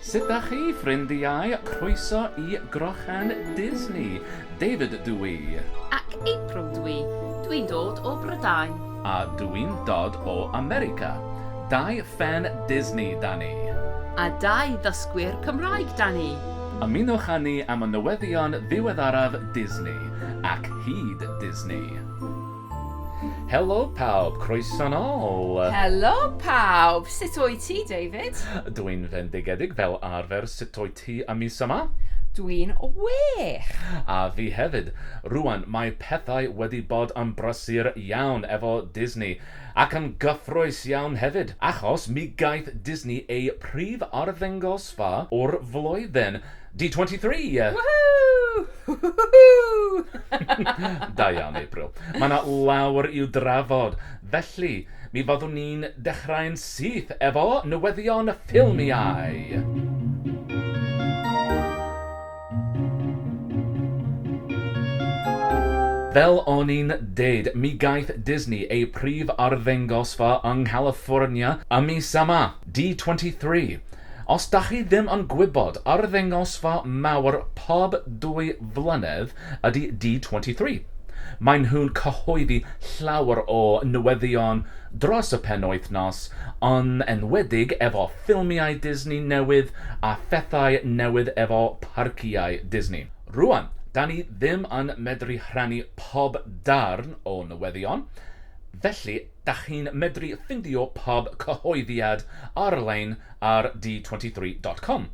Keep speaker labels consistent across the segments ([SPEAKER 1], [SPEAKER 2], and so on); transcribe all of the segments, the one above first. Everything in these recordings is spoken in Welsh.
[SPEAKER 1] Sut dach chi, ffrindiau? Croeso i Grochen Disney! David dw i. Ac April
[SPEAKER 2] dw i. Dw i'n dod o Brydain. A dw i'n
[SPEAKER 1] dod o America. Dau ffên Disney 'da ni. A dau
[SPEAKER 2] ddysgwyr Cymraeg 'da ni. Ymunwch â
[SPEAKER 1] ni am y newyddion ddiweddaraf Disney, ac hyd Disney. Helo pawb, croeso nol! Helo
[SPEAKER 2] pawb, sut o'i ti David? Dwi'n fendigedig
[SPEAKER 1] fel arfer, sut o'i ti y mis yma? Dwi'n
[SPEAKER 2] wych! A fi
[SPEAKER 1] hefyd, rwan mae pethau wedi bod yn brysur iawn efo Disney, ac yn gyffroes iawn hefyd, achos mi gaeth Disney eu prif arddengosfa o'r flwyddyn, D23! Woohoo! Da iawn, April. Mae 'na lawer i'w drafod, felly mi fyddwn ni'n dechrau'n syth efo newyddion ffilmiau! Fel o'n i'n deud, mi gaeth Disney ei prif arddangosfa yng Nghaliffornia y mis yma. D23. Os dach chi ddim yn gwybod, arddangosfa mawr pob dwy flynedd ydy D23. Maen nhw'n cyhoeddi llawer o newyddion dros y penwythnos, yn enwedig efo ffilmiau Disney newydd a phethau newydd efo parciau Disney. Rŵan, 'dan ni ddim yn medru rhannu pob darn o newyddion, felly Dach chi'n medru ffindio pob cyhoeddiad ar-lein ar D23 dot com.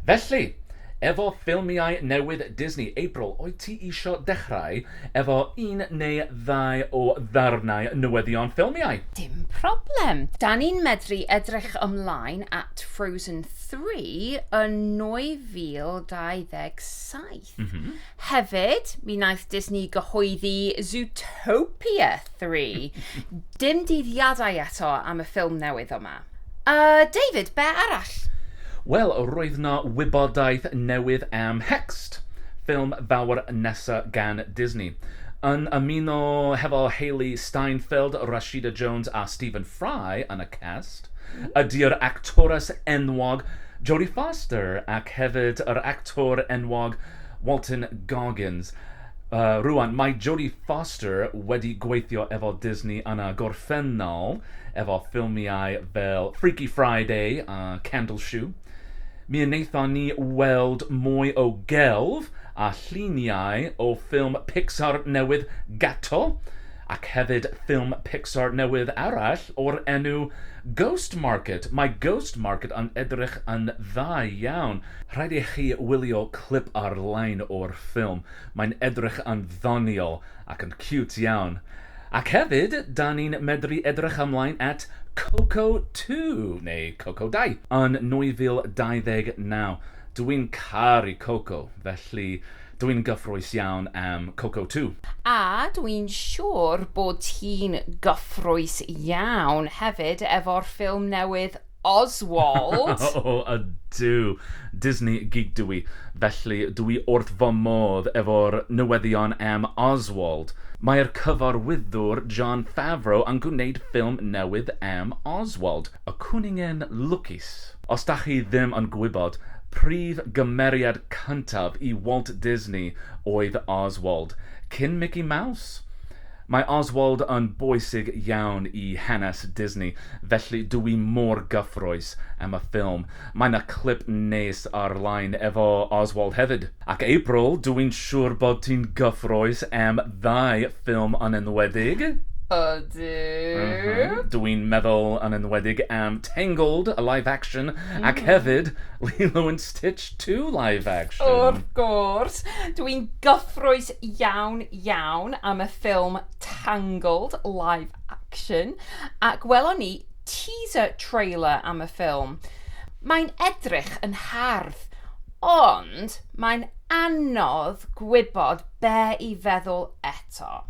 [SPEAKER 1] Felly, efo ffilmiau newydd Disney April wyt ti isio dechrau efo un neu ddau o ddarnau newyddion ffilmiau? Dim problem!
[SPEAKER 2] Dan ni'n medru edrych ymlaen at Frozen Three yn 2027. Mm -hmm. Hefyd, mi wnaeth Disney gyhoeddi Zootopia 3. Dim dyddiadau eto am y ffilm newydd yma. Uh, David, be arall? Wel,
[SPEAKER 1] roedd na wybodaeth newydd am Hext, ffilm fawr nesa gan Disney. Yn ymuno hefo Hailee Steinfeld, Rashida Jones a Stephen Fry yn y cas, ydy yr actores enwog Jodie Foster ac hefyd yr actor enwog Walton Goggins. Yy, rŵan, mae Jodie Foster wedi gweithio efo Disney yn y gorffennol efo ffilmiau fel Freaky Friday a Candle Shoe. Mi wnaethon ni weld mwy o gelf a lluniau o ffilm Pixar newydd Gato, Ac hefyd ffilm Pixar newydd arall o'r enw Ghost Market. Mae Ghost Market yn edrych yn dda iawn. Rhaid i chi wylio clip ar-lein o'r ffilm. Mae'n edrych yn ddoniol ac yn ciwt iawn. Ac hefyd, 'da ni'n medru edrych ymlaen at Coco Two, neu Coco Dau, yn 2029. Dw i'n caru Coco, felly Dw i'n gyffrous iawn am Coco too. A dw i'n
[SPEAKER 2] siwr bod ti'n gyffrous iawn hefyd efo'r ffilm newydd Oswald! O ydw!
[SPEAKER 1] Disney geek dw i, felly dw i wrth fy modd efo'r newyddion am Oswald. Mae'r cyfarwyddwr Jon Favreau yn gwneud ffilm newydd am Oswald. Y cwningen lwcus! Os dach chi ddim yn gwybod, prif gymeriad cyntaf i Walt Disney oedd Oswald, cyn Mickey Mouse! Mae Oswald yn bwysig iawn i hanes Disney, felly dw i mor gyffrous am y ffilm. Mae 'na clip neis ar-line efo Oswald hefyd. Ac April, dw i'n siŵr bod ti'n gyffrous am ddau ffilm yn enwedig. Ydw.
[SPEAKER 2] Dw i'n meddwl yn
[SPEAKER 1] enwedig am Tangled, y live action, ac hefyd Lilo and Stitch Two live action. Wrth gwrs.
[SPEAKER 2] Dw i'n gyffrous iawn, iawn am y ffilm Tangled live action. A gwelon ni... teaser trailer am y ffilm, mae'n edrych yn hardd, ond mae'n anodd gwybod be i feddwl eto.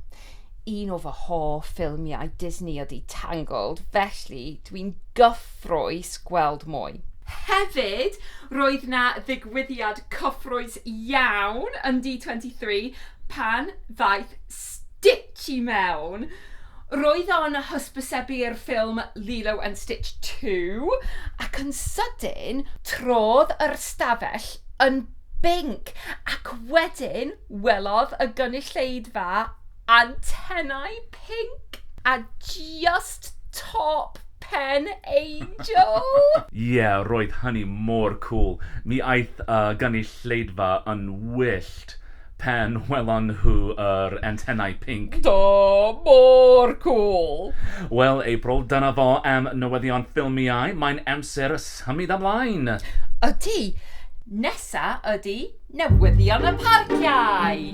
[SPEAKER 2] Un o fy hoff ffilmiau Disney ydy Tangled, felly dwi'n gyffrous gweld mwy. Hefyd, roedd yna ddigwyddiad cyffrous iawn yn D23 pan ddaeth Stitch i mewn. Roedd o'n hysbysebu'r ffilm Lilo and Stitch Two, ac yn sydyn, trodd yr ystafell yn binc, ac wedyn welodd y gynulleidfa antenau pinc a just top pen angel! Ie,
[SPEAKER 1] roedd hynny mor cŵl. Mi aeth y gynulleidfa yn wyllt. pan welon nhw yr antenau pinc. Do,
[SPEAKER 2] mor cŵl! Wel, April,
[SPEAKER 1] dyna fo am newyddion ffilmiau, mae'n amser symud ymlaen! Ydy!
[SPEAKER 2] Nesa ydy newyddion y parciau!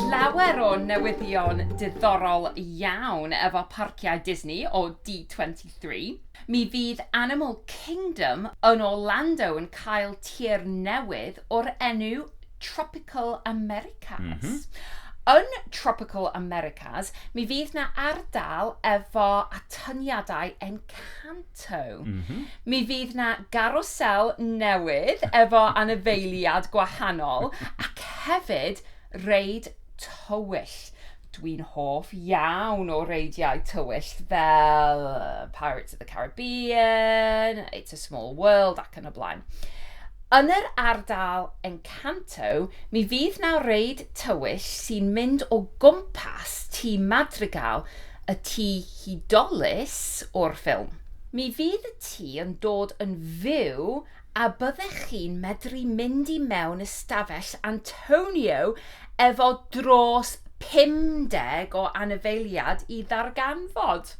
[SPEAKER 2] Llawer o newyddion diddorol iawn efo parciau Disney o D23. Three. Mi fydd Animal Kingdom yn Orlando yn cael tir newydd o'r enw Tropical Americas. Yn Tropical Americas, mi fydd 'na ardal efo atyniadau Encanto. Mi fydd 'na garwsel newydd efo anifeiliad gwahanol ac hefyd reid tywyll. Dwi'n hoff iawn o reidiau tywyll fel Pirates of the Caribbean, It's a Small World ac yn y blaen. Yn yr ardal Encanto, mi fydd na reid tywyll sy'n mynd o gwmpas Tŷ Madrigal, y tŷ hudolus o'r ffilm. Mi fydd y tŷ yn dod yn fyw A byddech chi'n medru mynd i mewn ystafell Antonio efo dros 50 o anifeiliad i ddarganfod?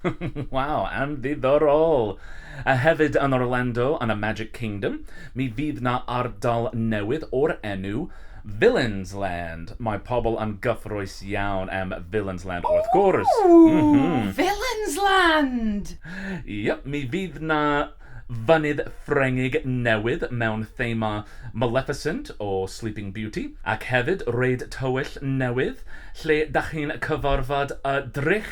[SPEAKER 2] Waw,
[SPEAKER 1] anddidorol! A hefyd yn Orlando yn y Magic Kingdom, mi fydd 'na ardal newydd o'r enw Villains Land. Mae pobl yn gyffrous iawn am Villains Land wrth gwrs. Ww! Villains
[SPEAKER 2] Land! Yep, mi
[SPEAKER 1] fydd 'na Fynydd Ffrengig newydd mewn thema Maleficent o Sleeping Beauty, ac hefyd reid tywyll newydd lle dach chi'n cyfarfod y Drych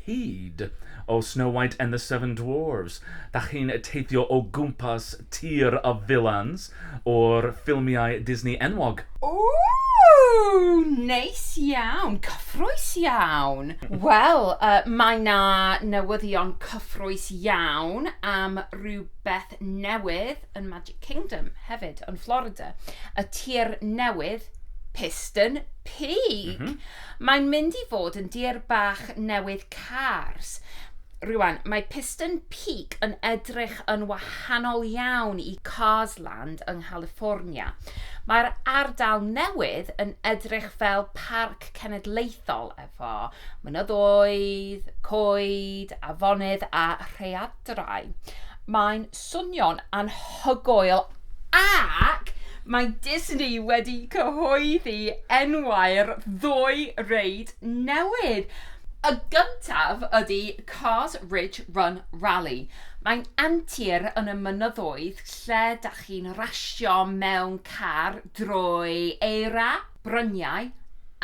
[SPEAKER 1] Hud o Snow White and the Seven Dwarves. Dach chi'n teithio o gwmpas tir y vilans o'r ffilmiau Disney enwog. Ooh!
[SPEAKER 2] Neis iawn! Cyffrous iawn! Wel, mae 'na newyddion cyffrous iawn am rywbeth newydd yn Magic Kingdom hefyd, yn Florida, y tir newydd, Piston Peak! Mae'n mynd i fod yn dir bach newydd Cars. Rŵan, mae Piston Peak yn edrych yn wahanol iawn i Cars Land yng Nghaliffornia. Mae'r ardal newydd yn edrych fel parc cenedlaethol efo mynyddoedd, coed, afonydd a rhaeadrau. Mae'n Swnio'n anhygoel ac mae Disney wedi cyhoeddi enwau'r ddwy reid newydd. Y gyntaf ydy Cars Ridge Run Rally. Mae'n antur yn y mynyddoedd lle da chi'n rasio mewn car drwy eira, bryniau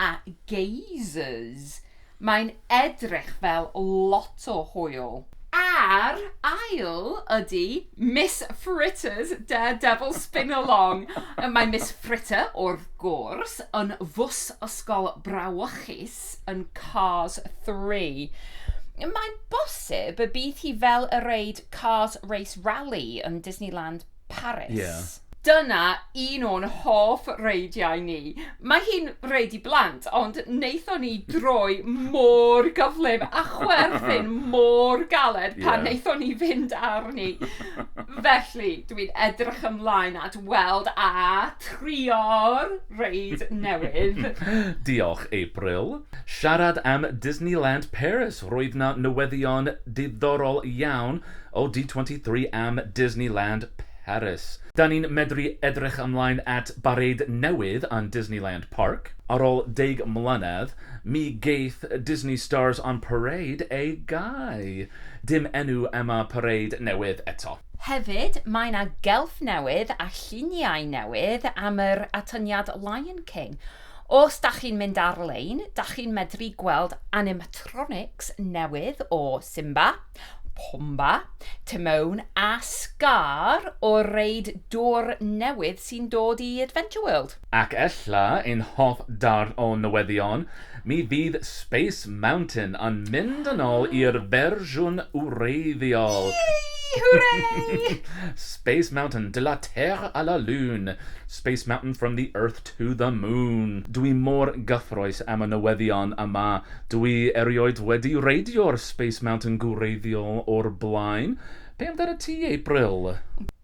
[SPEAKER 2] a geysers. Mae'n edrych fel lot o hwyl. A'r ail ydy Miss Fritters De Devil Spin-Along. Mae Miss Fritter, wrth gwrs, yn fws ysgol brawychus yn Cars 3. Mae'n bosib y bydd hi fel y reid Cars Race Rally yn Disneyland Paris. Yeah. Dyna un o'n hoff reidiau ni. Mae hi'n reid i blant, ond wnaethon ni droi mor gyflym a chwerthin mor galed pan yeah. wnaethon ni fynd arni. Felly, dwi'n edrych ymlaen at weld a trio'r reid newydd. Diolch,
[SPEAKER 1] April. Siarad am Disneyland Paris, roedd na newyddion diddorol iawn o D23 am Disneyland Paris. Da ni'n medru edrych ymlaen at bareid newydd yn Disneyland Parc. Ar ôl deg mlynedd, mi geith Disney Stars on Parade ei gau. Dim enw am y pareid newydd eto. Hefyd, mae
[SPEAKER 2] 'na gelf newydd a lluniau newydd am yr atyniad Lion King. Os da chi'n mynd ar-lein, da chi'n medru gweld animatronics newydd o Simba. Pomba, Timone a Scar o reid dwr newydd sy'n dod i Adventure World. Ac ella
[SPEAKER 1] ein hoff darn o newyddion, mi fydd Space Mountain yn mynd yn ôl i'r fersiwn wreiddiol! Yee! Hwrei!
[SPEAKER 2] Space
[SPEAKER 1] Mountain, de la Terre à la Lune, Space Mountain from the Earth To the moon! Dwi mor gyffrous am y newyddion yma. Dwi erioed wedi reidio'r Space Mountain gwreiddiol o'r blaen. Be amdanat ti, April?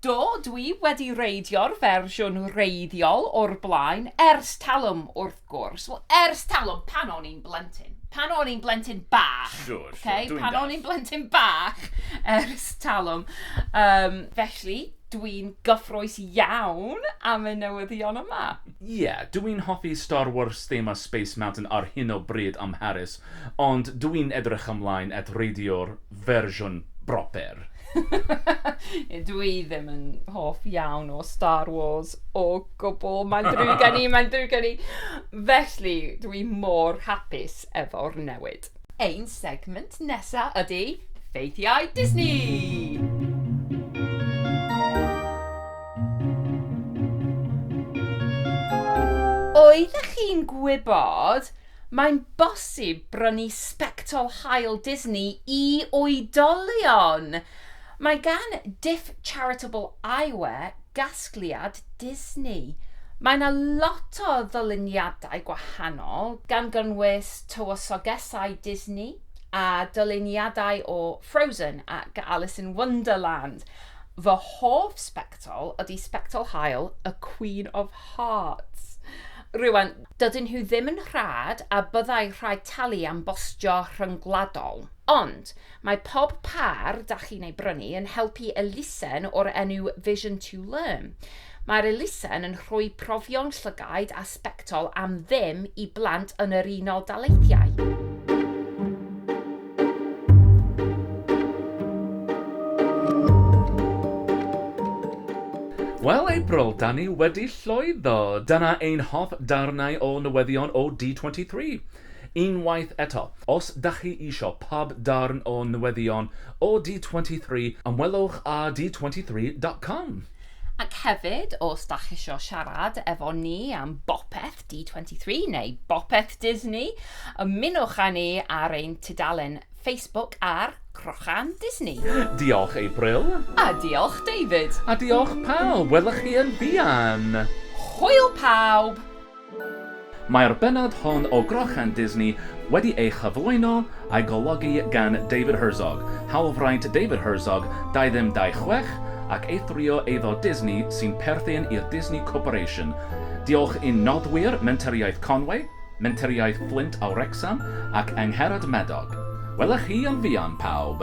[SPEAKER 1] Do, dwi
[SPEAKER 2] wedi reidio'r fersiwn wreiddiol o'r blaen, ers talwm, wrth gwrs. Wel, ers talwm, pan o'n i'n blentyn. Pan o'n i'n blentyn bach. Siŵr, siŵr, dwi'n dallt. Pan
[SPEAKER 1] o'n i'n
[SPEAKER 2] blentyn
[SPEAKER 1] bach,
[SPEAKER 2] ers talwm. Yym, felly, dwi'n gyffroes iawn am y newyddion yma. Ie, yeah, dw i'n
[SPEAKER 1] hoffi Star Wars thema Space Mountain ar hyn o bryd ym Mharis, ond dw i'n edrych ymlaen at reidio'r fersiwn broper.
[SPEAKER 2] Ie, dw i ddim yn hoff iawn o Star Wars o gwbl, mae'n ddrwg gen i, mae'n ddrwg gen i. Felly, dw i mor hapus efo'r newid. Cymreictod. Ein segment nesa ydy Ffeithiau Disney! Oeddech chi'n gwybod? Mae'n bosib brynu sbectol haul Disney i oedolion! Mae gan Diff Charitable Eyewear gasgliad Disney. Mae 'na lot o ddyluniadau gwahanol, gan gynnwys tywysogesau Disney a dyluniadau o Frozen ac Alice in Wonderland. Fy hoff sbectol ydy sbectol haul y Queen of Hearts. Rŵan, dydyn nhw ddim yn rhad a byddai rhaid talu am bostio rhyngwladol. Ond, mae pob pâr da chi'n ei brynu yn helpu elusen o'r enw Vision to Learn. Mae'r elusen yn rhoi profion llygaid a sbectol am ddim i blant yn yr Unol Daleithiau.
[SPEAKER 1] Wel, April, da ni wedi llwyddo. Dyna ein hoff darnau o newyddion o D23. Unwaith eto, os da chi isio pob darn o newyddion o D23, ymwelwch â d23.com. Ac
[SPEAKER 2] hefyd, os da chi isio siarad efo ni am bopeth D23 neu bopeth Disney, ymunwch â ni ar ein tudalen Facebook ar Crochan Disney. Diolch, April.
[SPEAKER 1] A diolch,
[SPEAKER 2] David. A diolch pawb,
[SPEAKER 1] welwch chi yn fuan! Hwyl
[SPEAKER 2] pawb!
[SPEAKER 1] Mae'r bennod hon o Grochan Disney wedi ei chyflwyno a'i golygu gan David Herzog, hawlfraint David Herzog, 2226, ac eithrio eiddo Disney sy'n perthyn i'r Disney Corporation. Diolch i'n noddwyr Mentoriaeth Conway, Mentoriaeth Fflint a Wrecsam ac Angharad Madog. Wela chi yn fuan, pawb!